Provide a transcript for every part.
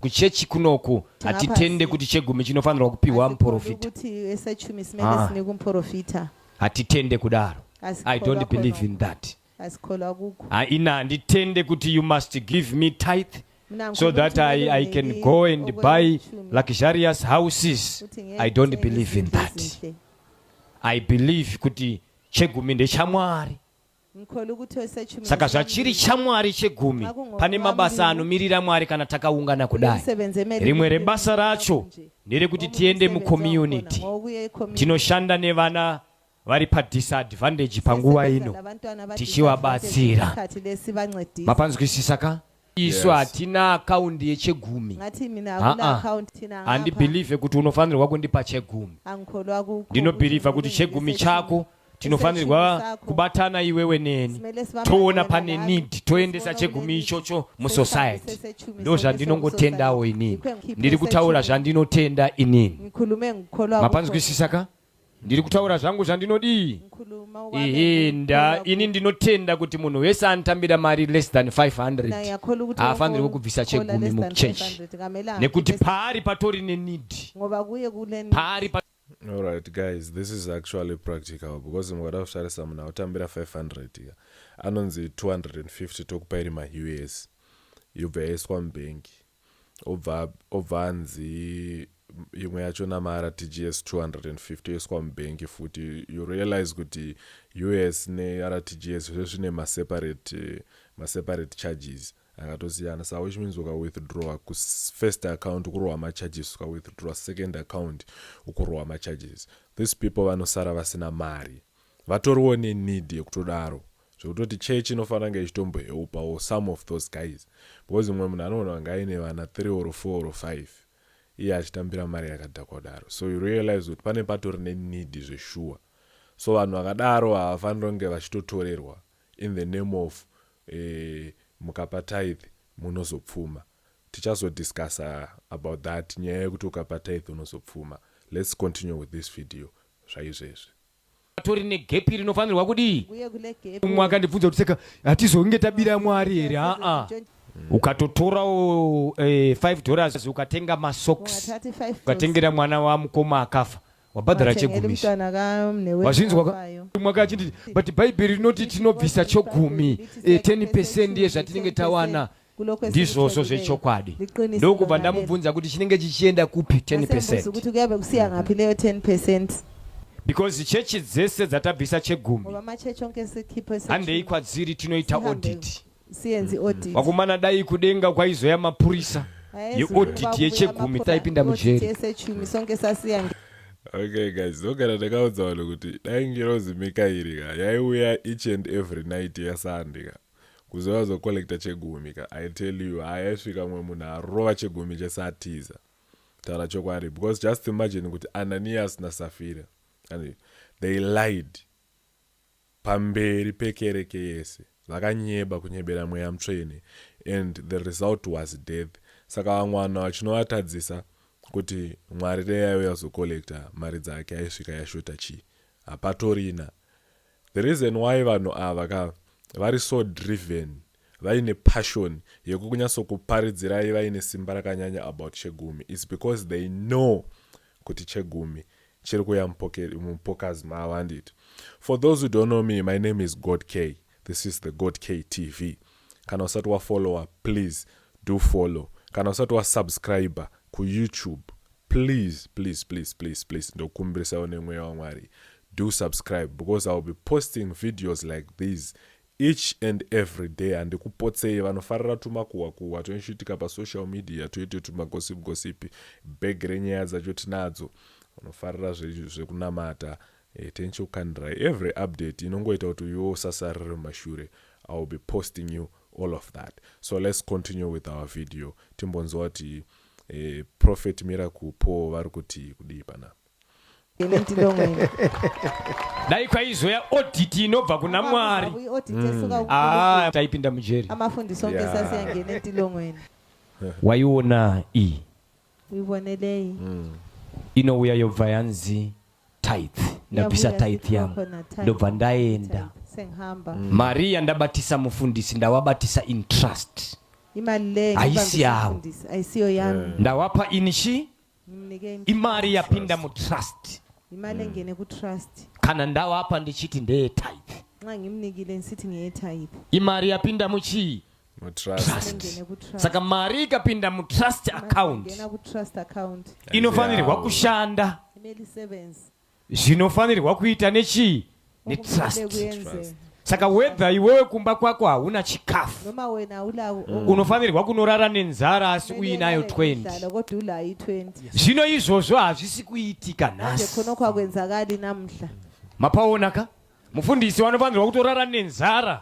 Kuchechi kunoku hatitende kuti chegumi chinofanirwa kupihwa muporofita. Ah. Hatitende kudaro. I don't believe in that. Haina handitende kuti you must give me tithe so that I, I can go and buy luxurious houses. I don't believe in that. I believe kuti chegumi ndechamwari. Saka zvachiri chamwari chegumi pane mabasa anomirira mwari kana takaungana kudai. Rimwe rebasa racho nderekuti tiende mucommunity tinoshanda nevana vari padisadvantage panguva ino tichivabatsira. Mapanzwisisa ka? isu hatina akaundi yechegumi handibhilivhe kuti unofanirwa kundipa chegumi ndinobhilivha kuti chegumi chako tinofanirwa kubatana iwewe neni toona pane need toendesa chegumi ichocho musociety ndo zvandinongotendawo inini ndiri kutaura zvandinotenda inini mapanzwisisa ka ndiri kutaura zvangu zvandinodii ihi nda ini ndinotenda kuti munhu wese anotambira mari less than 500 haafanirwe kubvisa chegumi muchechi nekuti paari patori nenidi paari pa All right, guys, this is actually practical because mukada kutarisa munhu autambira 500 ya anonzi 250 tokupa iri maus yobva yaiswa mubhengi obva obva anzi imwe yacho namara tgs 250 yoiswa mubank futi you realize kuti us nertgs zve zvine maseparate maseparate charges akatosiyana sa which means ukawithdrawa kufirst account ukurohwa macharges ukawithdrawa second account ukurohwa macharges these people vanosara vasina mari vatoriwo nenid yekutodaro zvekutoti church inofanira kunge ichitomboheupawo some of those guys because mumwe munhu anogona kunge aine vana three or four or five iye achitambira mari yakadhakwa kudaro so you realize kuti pane patori nenidi zveshuwa so vanhu vakadaro havafanira kunge vachitotorerwa in the name of eh, mukapa tithe munozopfuma tichazodiscussa about that nyaya yekuti ukapa tithe unozopfuma let's continue with this video zvaizvezvi patori negepi rinofanirwa kudii umwe akandibvunza kuti saka hatizonge tabira mwari here haa ukatotorawo eh, 5 dollars ukatenga masocks ukatengera mwana wamukoma akafa wabhadhara chegumisi wazvinzwa ka mwaka achinditi but bhaibheri rinoti tinobvisa chogumi eh, 10 percent yezvatinenge tawana ndizvozvo zvechokwadi ndokubva ndamubvunza kuti chinenge chichienda kupi 10 percent kuti kuyave kusiya ngapi neyo 10 percent because chechi dzese dzatabvisa chegumi handei kwadziri tinoita audit mm-hmm. vakomana dai kudenga kwaizoya mapurisa yeaudit yechegumi taipinda mujeri okay guys ndogara ndakaudza vanhu kuti dai ngirozi mikairi ka yaiuya each and every night yasunday ka Kuzoya azo collector chegumi ka I tell you haa yaisvika mumwe munhu arova chegumi chese atiza taura chokwadi because just imagine kuti Ananias na Safira and they lied pamberi pekereke yese vakanyeba kunyebera mweya mutsvene and the result was death saka vamwana vachinovatadzisa kuti Mwari dai yaiuya kuzocollector mari dzake aisvika yashota chii hapatorina The reason why vanhu ava ka vari so driven vaine passion yekukunyatsokuparidzirai vaine simba rakanyanya about Chegumi it's because they know kuti Chegumi chiri kuya mupockets mavo handiti. For those who don't know me my name is God K this is the God K TV kana usati wafollower please do follow kana usati wasubscriber kuYoutube Please please please please please ndokumbirisawo nemweya waMwari do subscribe because I will be posting videos like these each and every day handikupotsei vanofarira tumakuhwa kuhwa tunochiitika pasocial media toite tumagosipi gosipi bhegi renyaya dzacho tinadzo vanofarira zvekunamata eh, tenchi ukandirai every update inongoita kuti uyuwo usasarire mumashure i will be posting you all of that so let's continue with our video timbonzwa kuti Eh, prophet miracle paul vari kuti kudii panapa Ini ndilongo ini. dai kwaizoya audit inobva kuna mwari Abuyi oti tesuka ah ukuluku. taipinda mujeri Amafundisi onke Yeah. sasiyangene entilongweni. waiona iyi Uyibonelei? inouya yobva yanzi tithe ndabvisa tithe yangu ndobva ndaenda mm. mari yandabatisa mufundisi ndawabatisa in trust haisi yavo ndawapa ini chi imari yapinda mutrust kana ndawapa ndichiti ndeyetithe imari yapinda muchii trust saka mari ikapinda mutrust account inofanirwa kushanda zvinofanirwa kuita nechii netrust saka whether iwewe kumba kwako hauna chikafu mm. unofanirwa kunorara nenzara asi uinayo 20 zvino izvozvo hazvisi kuitika nhasi mapaona ka Mufundisi wanofanirwa kutorara nenzara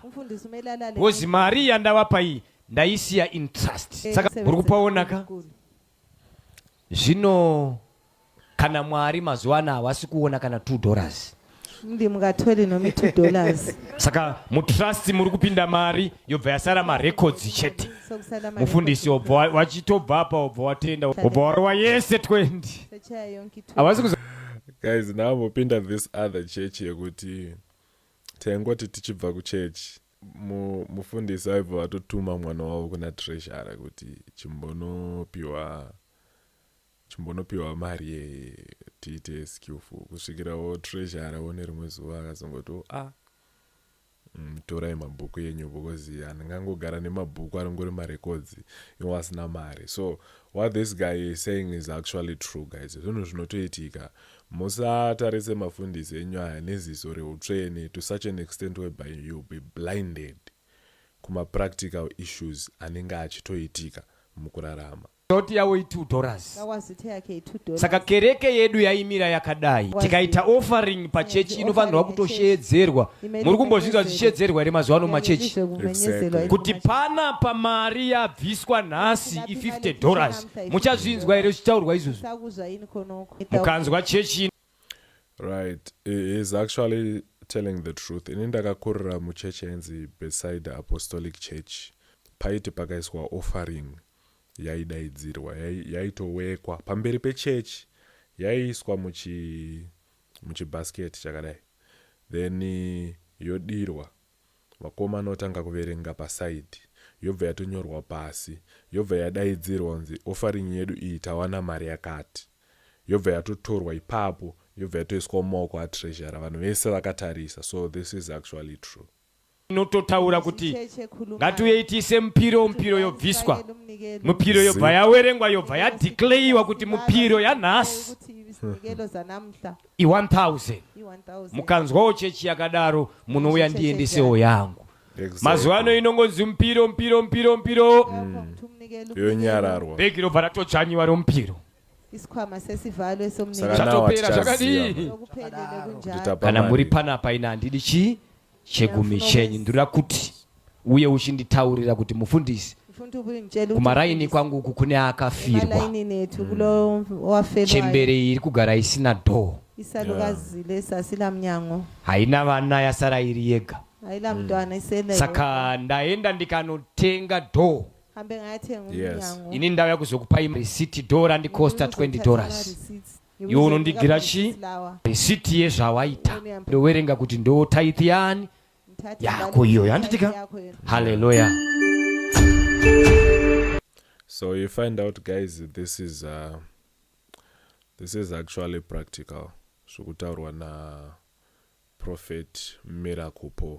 because mari yandavapa iyi ndaisiya in trust. Eh, Saka muri kupaonaka zvino kana mwari mazuva ano havasi kuona kana two dollars ndi mungatore nomi two dollars saka mutrust muri kupinda mari yobva yasara marecords chete mufundisi obva wachitobva apa obva watenda obva warova yese 20 havasi guys ndaambopinda this other church yekuti taingoti tichibva kuchurch mufundisi aibva vatotuma mwana wavo kuna treshara kuti chimbonopiwa chimbonopiwa mari yeye tiite skillful kusvikirawo treshara one rimwe zuva akazongoti o oh, a ah, Umm torai mabhuku enyu because handingangogara nemabhuku anongori marecords ewasina mari so what this guy is saying is actually true guys zvinhu zvinotoitika musatarise mafundisi enyu aya neziso reutsvene to such an extent whereby you'll be blinded kumapractical issues anenge achitoitika mukurarama. Doti yavo i 2 dollars. Saka kereke yedu yaimira yakadai. Tikaita offering pachechi inofanirwa kutosheedzerwa. Muri kumbozvinzwa zvichishedzerwa here mazuva ano machechi? Kuti pana pamari yabviswa nhasi i 50 dollars. Muchazvinzwa here zvichitaurwa izvozvo? Mukanzwa chechi. Right. He is actually telling the truth. Ini ndakakurira muchechi yainzi Bethsaida Apostolic Church. Paiti pakaiswa offering. yaidaidzirwa yai- yaitowekwa pamberi pechechi yaiiswa muchi muchibasket chakadai then eh, yodirwa vakomana otanga kuverenga pasaidhi yobva yatonyorwa pasi yobva yadaidzirwa kunzi offering yedu iyi tawana mari yakati yobva yatotorwa ipapo yobva yatoiswa mumaoko atreasurer vanhu vese vakatarisa so this is actually true inototaura kuti ngatiuyei tiise mupiro mupiro yobviswa mupiro yobva yawerengwa yobva yadeclayiwa kuti mupiro yanhasi i1000 mukanzwawo chechi yakadaro munouya ndiendesewo yangu mazuva ano inongonzi mupiro mupiro mupiro mupiro yonyararwa bhegi robva ratodzvanyiwa romupiro isikhwama sesivalo esomnikazi chatopera zvakadii kana muri panapa ina handidi chii chegumi chenyu ndinoda kuti uye uchinditaurira kuti mufundisi kumaraini kwangu uku kune akafirwa hmm. chembere iyi iri kugara isina dhoo haina vana yasara iri yega hmm. saka ndaenda ndikanotenga dhoo hambe ngayathenga Yes. umnyango ini ndauya kuzokupa im- receipt do randicosta Umuntu 20 uzothatha dollars ama-receipts. Iwe iwe unondigira uzobheka chi ama-receipts lawa. receipt yezvawaita ndowerenga kuti ndo tithe yani Ngithathe yako imali iyoyo handiti ka yakho yona. haleluya So you find out, guys, this is uh, this is actually practical. Zvokutaurwa na prophet Miracle Paul